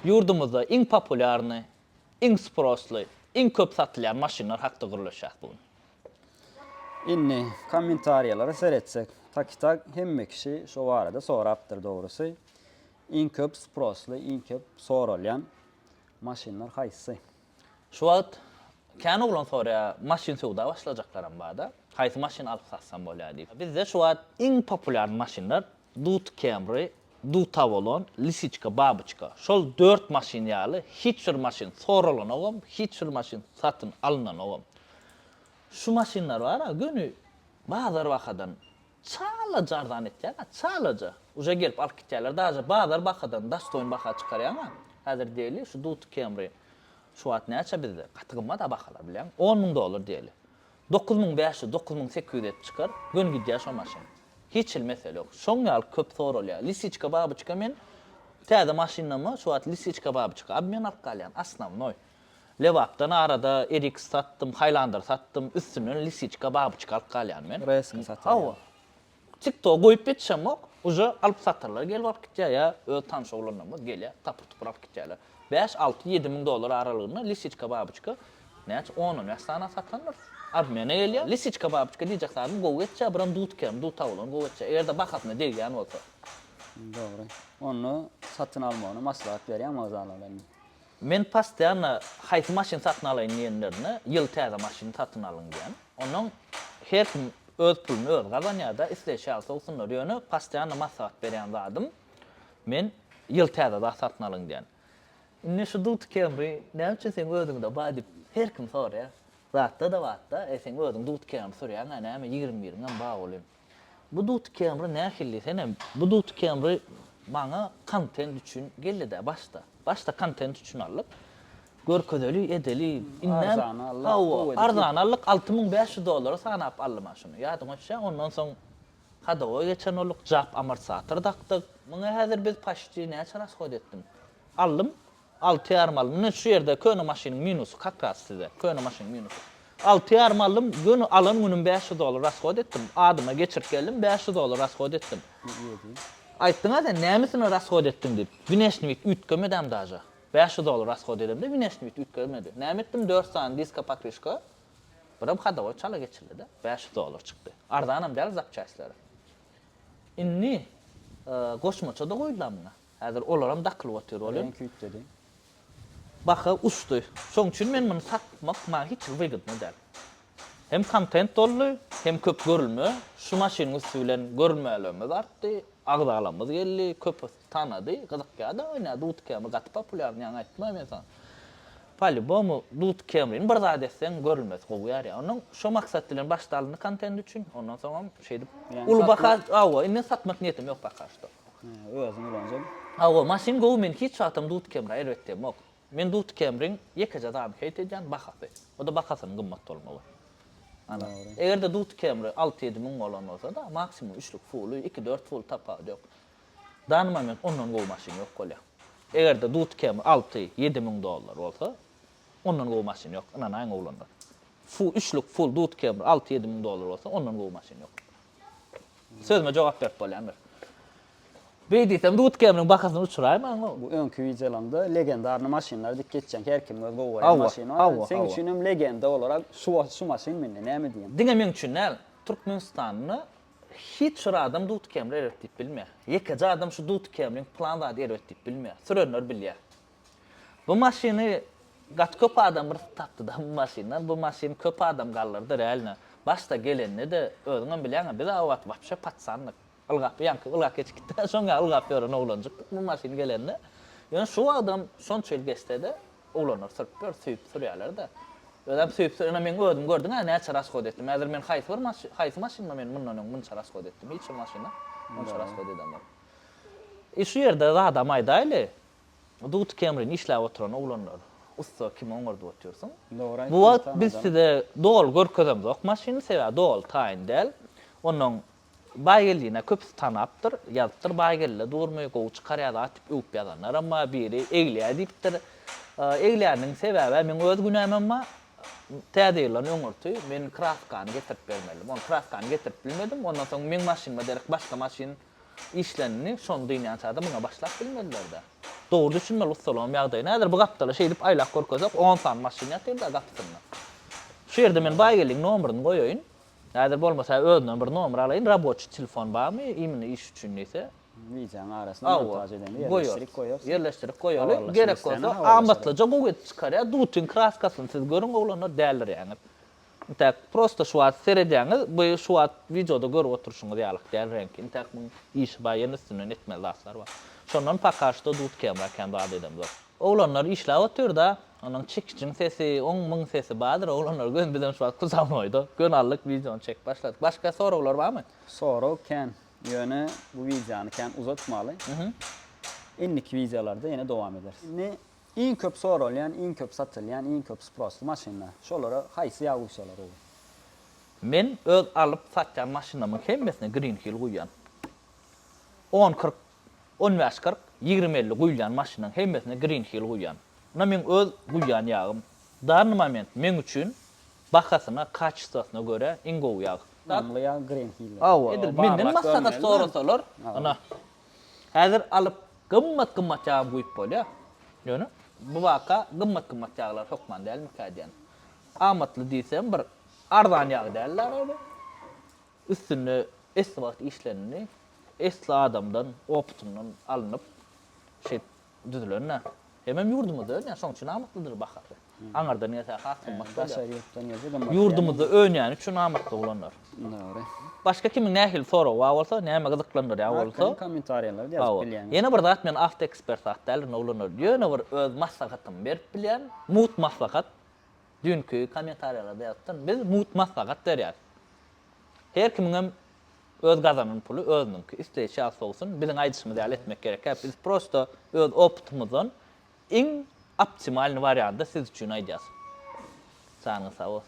Ýurdumyzda iň populýarny, iň sprossly, iň köp satylýan maşynlar hakda gürleşýäs bu gün. Indi kommentariýalara seretsek, takytag hemme kişi şo barada sorapdyr dogrusy. Iň köp sprossly, iň köp soralýan maşynlar haýsy? Şu wagt kän oglan soraýar, maşyn söwda başlajaklaram barda, haýsy maşyn alyp satsam bolýar diýip. Bizde şu wagt iň populýarny maşynlar Dut Camry, Dut Avalon, Lisiçka, Babyçka. Şol dört maşyn ýaly hiç bir maşyn soralanogam, hiç bir maşyn satyn alynanogam. Şu maşynlar bar-a göni bazar bahadan Çalaja arzan etýäňa, çalaja. Uje gelip alyp gitýärler, daže bazar bahadan dastoýn baha çykarýaňa. Häzir diýeli, şu Duty Camry şu wagt näçe bizde? Gaty gymmat-a bahalar bilýäňmi? On müň dollar diýeli. Dokuz müň bäş ýüz, dokuz müň sekiz ýüz edip çykar, göni gidýär şo maşyn. Hiç hili mesele ýok. Şoň ýaly köp soralýar. Lisiçka-babyçka men täze maşynama şu wagt lisiçka-babyçka obmen alyp galýan, osnovnoý. Lebapdan arada eriks satdym, haýlandyr satdym, üstünden lisiçka, babuçka alyp galýan men. Reska satyp alýan. Hawa. Tiktoga goýup ýetişemok, uje alyp satyrlar gelip alyp gitýär ýa öz tanyş oglanlarymyz gelýär, tapyr tupur alyp gitýärler. Bäş, alty, ýedi müň dollar aralygynda lisiçka, babuçka näçe on, on bäş sany satandyrys. Obmena gelýär. Lisiçka, babuçka diýjek zadym gowy geçýär, biram dudkam, duta bolan gowy geçýär. Eger-de bahasyna degýän bolsa. Dogry. Onda satyn almagyny maslahat berýän wokzallardan. Men posýanna haýsy maşyn satyn alaýyn diýenlerine ýyl täze maşyn satyn alyň diýýän. Onnoň her kim öz puluny özi gazanýarda isleýşi ýaly sowsunlar. Ýöne posýanna maslahat berýän zadym men ýyl täze zat satyn alyň diýýän. Indi şu Duty Camry näme üçin seň özüňde bar diýip her kim soraýar. Zatda-da batda e seň özüň Duty Camry sürýäňä näme ýigrimi biriňem bar welin. Bu Duty Camry nähilli senem bu Duty Camry maňa kontent üçin geldidä başda. Başda kontent üçin aldyk. Görkezeli, edeli, indem hawa, arzan aldyk, alty müň bäş ýüz dollara sanap aldy maňa şuny. Ýadyňa düşýä, ondan soň hadowa geçen bolduk, jap amortisator dakdyk. Muňa häzir biz paşti näçe rashod etdim? Aldym, Altyýar mall. Mine şu ýerde köne maşynyň minusy kakras size. Köne maşynyň minusy. Altyýar mallym göni alan günüm bäş ýüz dollar rashod etdim. Adyma geçirip geldim bäş ýüz dollar rashod etdim. Aýtdyňa sen nämesine rashod etdiň diýip. Wneşnwit üýtgemedem daže. Bäş ýüz dollar rashod edemde wneşnwit üýtgemedi. Näme etdim dört sany diska patwyşka. Birem hadowoý çala geçirdide. Bäş ýüz dollar çykdy. Arzanam däl zapçastleri. Indi goşmaça-da goýdular muňa. Häzir olaram dakylyp otyr welin. Reňki üýtgedi. Baha uçdy. Şoň üçin men muny satmak maňa hiç wygydny däl. Hem kontent doldy, hem köp görülme. Şu maşynyň üsti bilen görülmelerimiz artdy, agzalarymyz geldi, köpüsi tanady, gyzykýada oýna Dut Camry gaty populýarny ýaňy aýtmaýyn men saňa. Polýubomu Dut Camryny bir zat etseň görülmesi gowy ýarýar. Onuň şo maksat bilen başda alyndy kontent üçin, ondan soňam şeýdip uly baha hawa indi satmak niýetim ýok poka şto. Özüň ulanjaň. Hawa maşyn gowy men hiç wagtam dudkemra erbetlemok men dudkemriň ýekeje zadyny heýt edýän bahasy oda bahasynyň gymmat bolmagy ana egerde dudkemri alty ýedi müň bolan bolsada maksimum üçlük fuly iki dört ful tapawudy ýok dany moment ondan gowy maşyn ýok bolýa egerde dudkemri alty ýedi müň dollar bolsa ondan gowy maşyn ýok ynanaýyň oglanlar fu üçlük ful dudkemri alty ýedi müň dollar bolsa ondan gowy maşyn ýok Sözüme jogap berip bolýan bir. Beý diýsem, Dudkemniň bahasyny uçuraýyn maňa. Bu öňki wideolaňda legendarny maşynlar dik geçýän, her kimiň öz gowy görýän maşyny bar. Seň üçin hem legenda olarak şu wagt şu maşyn mende, näme diýýän? Diňe meň üçin däl, Türkmenistanda hiç bir adam Dudkemli erbet diýip bilmeýär. Ýekeje adam şu Dudkemliň plan zady erbet diýip bilmeýär. Sürenler bilýär. Bu maşyny gaty köp adam bir tapdyda bu maşyndan. Bu maşyny köp adam galdyrdy realno. Başda gelende-de özüňem bilýäňä biz o wagt wapşe patsandyk. Ylgap ýaňky ylgap geçip gitdik-ä şoň ýaly ylgap ýören oglanjykdyk bu maşyn gelende. Ýöne şu wagtam şonça ýyl geçse-de oglanlar sürüp ýör, süýüp sürýärler-de. Özem süýüp sürýän meň özüm gördüň-ä näçe rasgod etdim. Häzir men haýsy bir maşyn, haýsy maşynda men mundan öň munça rasgod etdim. Hiç bir maşynda munça rasgod edemok. I şu ýerde zadam aýdaýly. Dud Kemrin işläp oturan oglanlar ussa kimi oňardyp otyrsyň. Bu wagt biz size doly görkezemzok maşyny sebäbi doly taýyn däl. Onnoň Baýgeldini köpüsi tanapdyr, ýazypdyr Baýgelde durmy, gowy çykarýa zat diýip öwüp ýazanlaram bar, biri egläýe diýipdir. Egläniň sebäbä meň öz günämem bar. Täze ýyldan öňürti men kraskany getirip bermelidim. Ony kraskany getirip bilmedim. Ondan soň meň maşynyma derek başga maşyn işlenini şony dynýançada muňa başlap bilmediler-dä. Dogry düşünmeli ussalaryň ýagdaýyny. Häzir bu gapdala şeýdip aýlap görkezsek, on sany maşyn ýatyr-da gapysynda. Şu ýerde men Baýgeldiň nomeryny goýaýyn. Häzir bolmasa özünden bir nomer alaýyn. Raboçi telefon barmy, imini iş üçin diýse? Wideonyň arasyna montaž edende ýerleşdirip goýarsyň. Ýerleşdirip goýaly. Gerek bolsa amatlyja gowy edip çykarýar. Dutyn kraskasyny siz görüň, oglanlar, dälirýäňiz. Intäk prosta şu wagt seredýäňiz, bu şu wagt wideoda görüp oturyşyňyz ýalyk däl reňk. Intäk muň işi bar, ýene üstünden etmeli zatlar bar. Şondan poka şto dut kemra kän zat edemzok. Oglanlar işläp otyrda, onuň çekijiň sesi, oň muň sesi bardyr, oglanlar göni bizem şu wagt kuzawnoýda, göni aldyk wideony çekip başladyk. Başga soraglar barmy? Sorag kän, ýöne bu wideony kän uzatmaly. Indiki wideolarda ýene dowam ederis. Indi Iň köp soralýan, iň köp satylýan, iň köp sprosly maşynlar. Şolara haýsy ýaguçalar gowy? Men öz alyp satýan maşynlarymyň hemmesine Green Hill guýýan. On kyrk, on bäş kyrk, ýigrimi elli guýulýan maşynlaryň hemmesine Green Hill guýýan. Ynha meň öz guýýan ýagym. Dany moment meň üçin bahasyna, kaçestwasyna görä iň gowy ýag. Namly ýag Green Hill. Edil menden maslahat sorasalar, ynha. Häzir alyp gymmat-gymmat ýagy guýup bolýar. Ýöne bu waka gymmat-gymmat ýaglar hökman dälmikä diýen. Amatly diýsem bir arzan ýag däl däl-ä bu. Üstünde esli wagt işlenildi. Esli adamdan, opytyndan alnyp, şeýdip düzülende, hemem ýurdumyzda önýär, şoň üçin amatlydyr bahasy. Aňyrdan gelse has gymmat bolýar. Daşary ýurtdan gelse gymmat. Ýurdumyzda önýäni üçin amatly bolanyr. Dogry. Başga kimiň nähili soragy bar bolsa, näme gyzyklandyrýar bolsa, kommentariýalarda ýazyp bilýäňiz. Ýene bir zat, men awtoekspert zat däl, indi oglanlar, ýöne bir öz maslahatymy berip bilýän, mugt maslahat. Düýnki kommentariýalarda ýazypdym, biz mugt maslahat berýäs. Her kimiňem Öz gazanan puly özüniňki, isleýşi ýag-sowsun, biziň aýdyşymyz ýaly etmek gerekýär, biz prosta öz opytymyzdan iň optimalny warianty siz üçin aýdýas. Janyňyz sag bolsun.